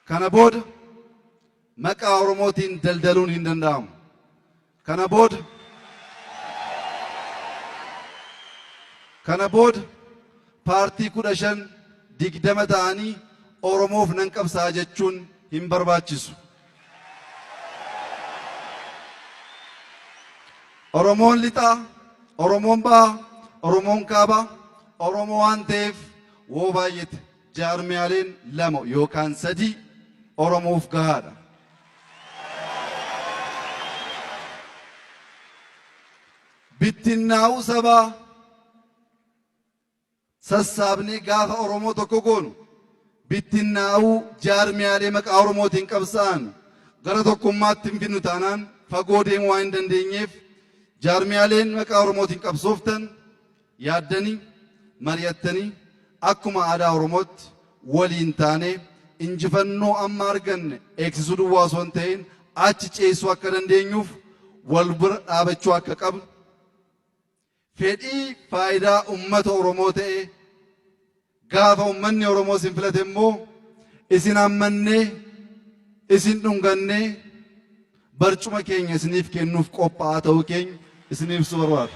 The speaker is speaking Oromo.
Kana booda maqaa Oromootiin daldaluun hin danda'amu. Kana booda Kana booda paartii kudha shan digdama ta'anii Oromoof nan qabsa'a jechuun hin barbaachisu. Oromoon Lixaa, Oromoon Bahaa, Oromoon Kaabaa Oromoo waan ta'eef woo baay'ete jaarmiyaaleen lama yookaan sadii Oromoof gahaadha. Bittinnaa'uu sabaa sassaabnee gaafa Oromoo tokko goonu bittinnaa'uu jaarmiyaalee maqaa Oromootiin qabsaa'an gara tokkummaatti hin fidnu taanaan fagoo deemuu waan hin dandeenyeef jaarmiyaaleen maqaa Oromootiin qabsooftan yaaddanii mari'attanii akkuma aadaa Oromootti waliin taanee injifannoo amma arganne eegsisuu duwwaa osoo hin ta'in achi ceessuu akka dandeenyuuf wal bira dhaabachuu akka qabnu Fedhii faayidaa ummata Oromoo ta'e gaafa ummanni Oromoo isin filate immoo isin hammannee, isin dhungannee barcuma keenya isiniif kennuuf qophaa'aa ta'uu keenya isiniif ibsuu barbaada.